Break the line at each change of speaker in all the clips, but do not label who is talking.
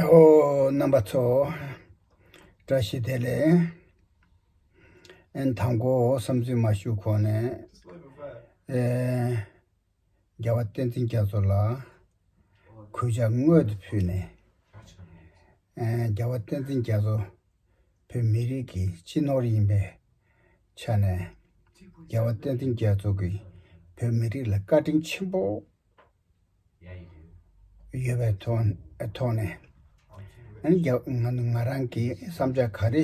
ཨོ། རྣམ་པ་ཚོ། བཀྲ་ཤིས་བདེ་ལེགས། ཨན་དང་པོ་བསམ་ཚུལ་མ་ཞུ་གོང་ནས། རྒྱལ་བ་བསྟན་འཛིན་རྒྱ་མཚོ་ལ། གུས་ཕྱག་དངོས་དུ་ཕུལ་ནས། རྒྱལ་བ་བསྟན་འཛིན་རྒྱ་མཚོ། བོད་མི་རིགས་ཀྱི་སྤྱི་ནོར་ཡིན་པའི་ཆ་ནས། རྒྱལ་བ་བསྟན་འཛིན་རྒྱ་མཚོ་གིས་བོད་མི་རིགས་ལ་བཀའ་དྲིན་ཆེན་པོ། ཡོད་པའི་ཐོག་ནས། ང་རང་གིས་བསམ་འཆར་ག་རེ་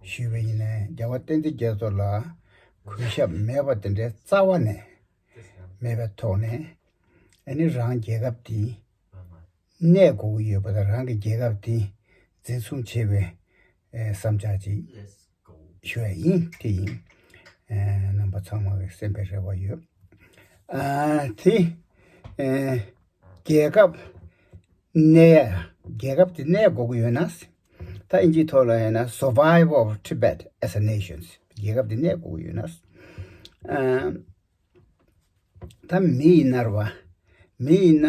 ཞུས་པ་ཡིན་ནའི་རྒྱལ་བ་བསྟན་འཛིན་རྒྱལ་མཚོ་ལ་གུས་ཞབས་མེད་པ་དེ་འདྲའི་རྩ་བ་ནས་མེད་པའི་ཐོག་ནས། ནི་རང་རྒྱལ་ཁབ་འདི་གནས་དགོས་ཀྱི་ཡོད་པ་དང་རང་གི་རྒྱལ་ཁབ་འདི་འཛིན་བཟུང་བྱེད་པའི་བསམ་འཆར་ཅིག། ཞུ་བ་ཡིན་དེ་ཡིན། རྣམ་པ་ཚང་མ་གི་སེམས་པའི་རེ་བ་ཡོད། དེ་རྒྱལ་ཁབ་གནས་རྒྱལ་ཁབ་དེ་གནས་དགོས་ཀྱི་ཡོད་ན། ད་ཨིན་ཇིའི་ཐོག་ལ་ཡིན་ན Survive of Tibet as a Nation རྒྱལ་ཁབ་དེ་གནས་དགོས་ཀྱི་ཡོད་ན། ད་མི་ཡིས་མནར་བ། མི་ཡིས་ན།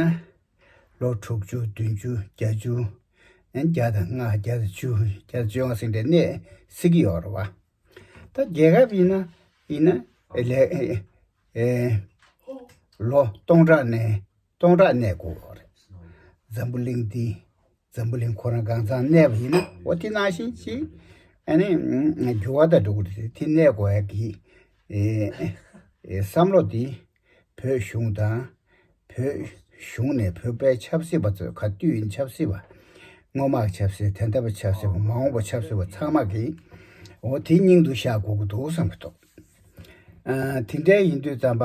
ལོ་དྲུག་ཅུ་བདུན་ཅུ་བརྒྱ་ཅུ། བརྒྱ་དང་ལྔ་བརྒྱ་དང་བཅུ་བརྒྱ་དང་བཅོ་ལྔ་ཟིན་པའི་གནས་སྲིད་ཀྱི་ཡོ་རོ་བ། ད་རྒྱལ་ཁབ་ཡིན་ན་ཡིན་ན། ལོ་སྟོང་ཕྲག་ནས་སྟོང་ཕྲག་གནས་སྒོ་རེད། འཛམ་བུ་གླིང་འདི་འཛམ་བུ་གླིང་ཁོ་རང་གང་ཚང་གནས་པ་ཡིན་ན་འོ་དེ་ནང་བཞིན་ཅིག་ཨ་ནི་འགྱུར་བ་དང་འགྲོ་ཀུ་རེ་རེད་དེ་གནས་སྒོ་ཡག་གི་བསམ་བློ་འདི་བོད་གཞུང་དང་བོད་གཞུང་ནས་བོད་པའི་ཆབ་སྲིད་པ་ཚོས་ག་དུས་ཡིན་ཆབ་སྲིད་པ་སྔོན་དམག་ཆབ་སྲིད་དེ་འདྲ་བ་ཆབ་སྲིད་པ་མ་འོངས་པ་ཆབ་སྲིད་པ་ཚང་མ་གི་འོ་དེ་སྙིང་དུ་བཞག་དགོ་གི་འདུག་བསམ་གི་འདུག་ཨ་དེ་འདྲའི་ཡིན་དུས་རྩམ་པ་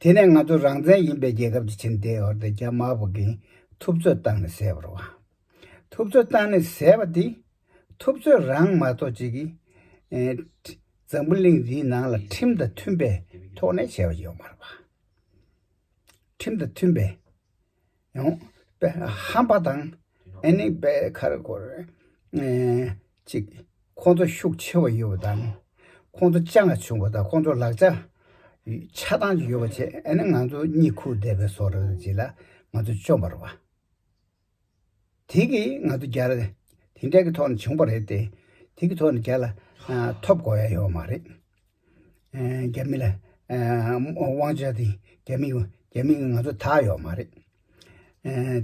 དེ་ནས་ང་ཚོ་རང་བཙན་ཡིན་པའི་རྒྱལ་ཁབ་ཅིག་ཕྱིན་ཏེ་འོར་ཏེ་རྒྱ་དམར་པོ་གིས་ཐུབ་ཚོད་བཏང་ནས་བཟས་པར་བ། ཐུབ་ཚོད་བཏང་ནས་བཟས་པ་དེ། ཐུབ་ཚོད་རང་མ་གཏོགས་ཅིག་གིས། འཛམ་བུ་གླིང་འདིའི་ནང་ལ་ཁྲིམས་དང་མཐུན་པའི་ཐོག་ནས་བྱས་པ་ཡོད་མ་རེད་པ། ཁྲིམས་དང་མཐུན་པའི། ཡོང། ཧམ་པ་དང་ཨེ་ནི་པའི་ཁར་སྐོར། གཅིག། ཁོང་ཚོ་ཤུགས་ཆེ་བ་ཡོད་པ་དང། ཁོང་ཚོ་ལྕགས་ལྔ་བྱུང་བ་དང་ཁོང་ཚོ་ལག་ཆ་ཆ་ཚང་ཡོད་པ་བཅས་ཨེ་ནི་ང་ཚོ་གཉིད་ཁུག་བསྡད་པའི་སོར་བརྗེ་ལ་ང་ཚོ་བཅོམ་པར་བ། དེ་གི་ང་ཚོ་རྒྱ་ར་དེ་འདྲ་གི་ཐོག་ནས་བྱུང་བ་རེད་དེ། དེ་གི་ཐོག་ནས་རྒྱ་ལ་ཐོབ་དགོས་ཡ་ཡོད་མ་རེད། རྒྱ་མི་ལ་དབང་ཆ་དེ་རྒྱ་མི་རྒྱ་མི་ང་ཚོ་ད་ཡོད་མ་རེད།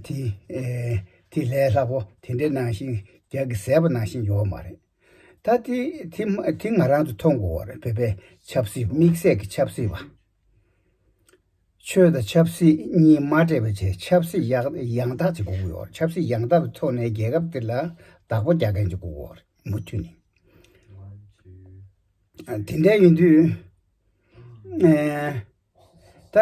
དེ་དེ་ལས་སླ་པོ་དེ་འདྲ་ནང་བཞིན་རྒྱ་གི་ཟས་པ་ནང་བཞིན་ཡོད་མ་རེད། ད་དེ་དེ་ང་རང་ཚོ་མཐོང་དགོས་བ་རེད་བོད་པའི་ཆབ་སྲིད་དམིགས་བསལ་གི་ཆབ་སྲིད་པ། ཆོས་དང་ཆབ་སྲིད་གཉིས་མ་འདྲེས་པ་བཅས་ཆབ་སྲིད་ཡང་དག་ཅིག་དགོས་ཀྱི་ཡོད་ཆབ་སྲིད་ཡང་དག་པའི་ཐོག་ནས་རྒྱལ་ཁབ་འདི་ལ་བདག་པོ་རྒྱག་མཁན་ཅིག་དགོས་ཀྱི་ཡོད་མུ་མཐུད་ནས་དེ་འདྲ་ཡིན་དུས་ད་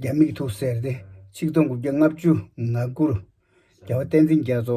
རྒྱ་མིག་ཐུགས་གསལ་ཏེ་ཆིག་སྟོང་དགུ་བརྒྱ་ལྔ་བཅུ་ང་དགུར་རྒྱལ་བ་བསྟན་འཛིན་རྒྱ་མཚོ་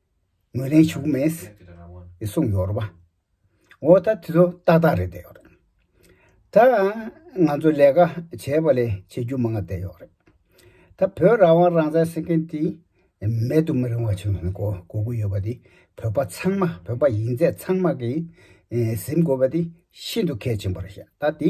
ངོས་ལེན་བྱུག་མེད། སྲུང་ཡོར་བ། འོ་ད་དེ་ཚོ་ཏག་ཏག་རེད་བསྡད་ཡོག་རེད། ད་ང་ཚོ་ལས་ཀ་བྱས་པ་ལས་བྱེད་རྒྱུ་མང་བསྡད་ཡོག་རེད། ད་བོད་རང་དབང་རང་བཙན་ཟེར་མཁན་དེ་མེད་དུ་མི་རིང་བ་བྱུང་སོང་གོ་གོ་གི་ཡོད་པ་དེ་བོད་པ་ཚང་མ་བོད་པ་ཡིན་ཚད་ཚང་མ་གིས་གཟིམ་དགོས་པ་དེ་ཤིན་ཏུ་གལ་ཆེན་པོ་རེད་ཤག་ད་དེ་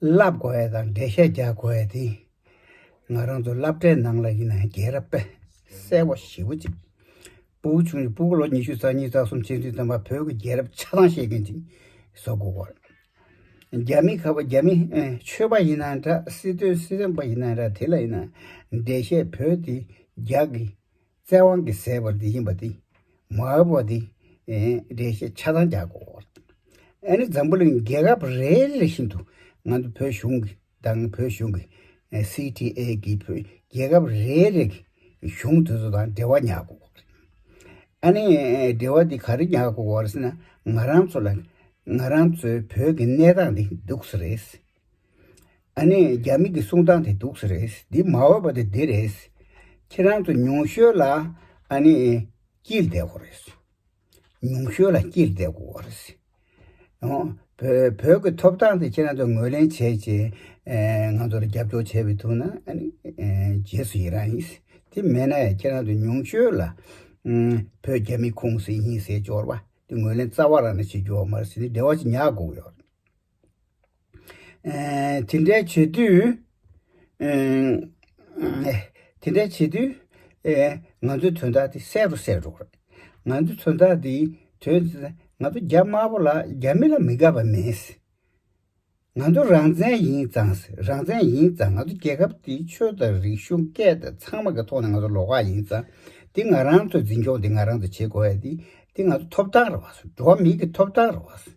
བསླབ་དགོས་པ་དང་འགྲེལ་བཤད་རྒྱག་དགོས་པ་དེ་ང་རང་ཚོ་བསླབ་གྲྭའི་ནང་ལ་ཡིན་ན་རྒྱལ་རབས་པས་གསལ་བོ་ཞེ་བོ་གཅིག། སྤུ་བོ་ཆུང་ཆུང་སྤུ་གོ་ལོ་ཉི་ཤུ་རྩ་གཉིས་རྩ་གསུམ་ཕྱེད་བདུན་ཙམ་པ་བོད་ཀྱི་རྒྱལ་རབས་ཆ་ཚང་ཤེས་མཁན་ཅིག་བཟོ་དགོས་བར། རྒྱ་མི་ཁ་བ་རྒྱ་མི་ཆོས་པ་ཡིན་ན་འདྲ་སྲིད་དོན་སྲིད་དོན་པ་ཡིན་ན་འདྲ་དེ་ལ་ཡིན་ན་འགྲེལ་བཤད་བོད་དེ་རྒྱག་གི་རྩལ་དབང་གི་ཟད་པར་འདི་ཡིན་པ་སྟེ། མ་འོས་པ་འདི། འགྲེལ་བཤད་ཆ་ཚང་རྒྱག་གོ། ཨ་ནི་འཛམ་བུ་གླིང་རྒྱལ་ཁབ་རེ་རེ་བཞིན་དུ་ང་ཚོ་བོད་གཞུང་གི་དང་བོད་གཞུང་གི། CTA། གི་བོད་རྒྱལ་ཁབ་རེ་རེ་གི་གཞུང་དེ་ཚོ་དང་འབྲེལ་བ་ཉག་གོ། ཨ་ནི་འབྲེལ་བ་འདི་ག་རེ་ཉག་གོ་བ་རེད་ཟེར་ན་ང་རང་ཚོ་ལ་ང་རང་ཚོའི་བོད་ཀྱི་གནས་སྟངས་འདི་སྡུག་ས་རེད། ཨ་ནེ་རྒྱ་མི་གི་གསུང་སྟངས་དེ་སྡུག་ས་རེད་འདི་མ་འོས་པ་དེ་འདི་རེད། ཁྱེད་རང་ཚོ་ཉུང་ཤོས་ལ་ཨ་ནེ་སྐྱིད་བསྡད་དགོས་རེད། ཉུང་ཤོས་ལ་སྐྱིད་བསྡད་དགོས་བ་རེད། བོད་ཀྱི་ཐོབ་ཐང་དེ་ཁྱེད་རང་ཚོ་ངོས་ལེན་བྱས་རྗེས་ང་ཚོར་རྒྱབ་སྐྱོར་བྱས་པའི་ཐུགས་ན་རྗེས་སུ་ཡི་རང་ཡིན། དེ་མེད་ན་ཡང་ཁྱེད་རང་ཚོ་ཉུང་ཤོས་ལ་བོད་རྒྱ་མི་ཁུངས་སེ་ཡིན་ཟེར་སྦྱོར་བ་དེ་ངོས་ལེན་རྩ་བ་རང་ནས་བྱེད་རྒྱུ་བ་མ་རེད་སེ་འདི་བདེ་བ་ཅིག་ཉག་དགོས་ཀྱི་ཡོད་རེད། དེ་འདྲ་བྱེད་དུས། དེ་འདྲ་བྱེད་དུས། ང་ཚོའི་དོན་དག་དེ་གསལ་རུ་གསལ་འགྲོ་གི་རེད། ང་ཚོའི་དོན་དག་དེ་དོན་དེ་ང་ཚོ་རྒྱ་དམར་པོ་ལ་རྒྱ་མི་ལ་མི་དགའ་བ་མིན། ང་ཚོ་རང་བཙན་ཡིན་ཙང་རང་བཙན་ཡིན་ཙང་ང་ཚོ་རྒྱལ་ཁབ་དེ་ཆོས་དང་རིག་གཞུང་སྐད་དང་ཚང་མ་གི་ཐོག་ནས་ང་ཚོ་ལོག་ཁག་ཡིན་ཙང་དེ་ང་རང་ཚོ་འཛིན་སྐྱོང་དེ་ང་རང་ཚོ་བྱེད་དགོས་ཡ་དེ་དེ་ང་ཚོ་ཐོབ་ཐང་རེད་བ། འགྲོ་བ་མིའི་གི་ཐོབ་ཐང་རེད་བ།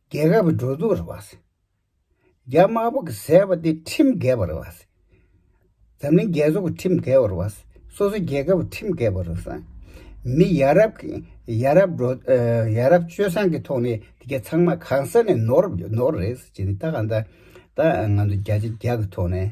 རྒྱལ་ཁབ་ཀྱི་འགྲོ་འདུག་ར་བ། རྒྱ་དམར་པོ་གི་ཟེར་བ་དེ་ཁྲིམས་འགལ་བ་རེད་བ། འཛམ་གླིང་རྒྱལ་ཚོགས་ཀྱི་ཁྲིམས་འགལ་བ་རེད་བ། སོ་སོ་རྒྱལ་ཁབ་ཀྱི་ཁྲིམས་འགལ་བ་རེད་བ། མི་ཡ་རབས་ཀྱི་ཡ་རབས་འགྲོ་ཡ་རབས་སྤྱོད་བཟང་གི་ཐོག་ནས་དེ་ག་ཚང་མ་གང་ས་ནས་ནོར་ནོར་རེད་ཟེར་གྱི་ནི་ད་ག་ད་ད་ང་ཚོ་རྒྱ་ཆེ་རྒྱ་གི་ཐོག་ནས།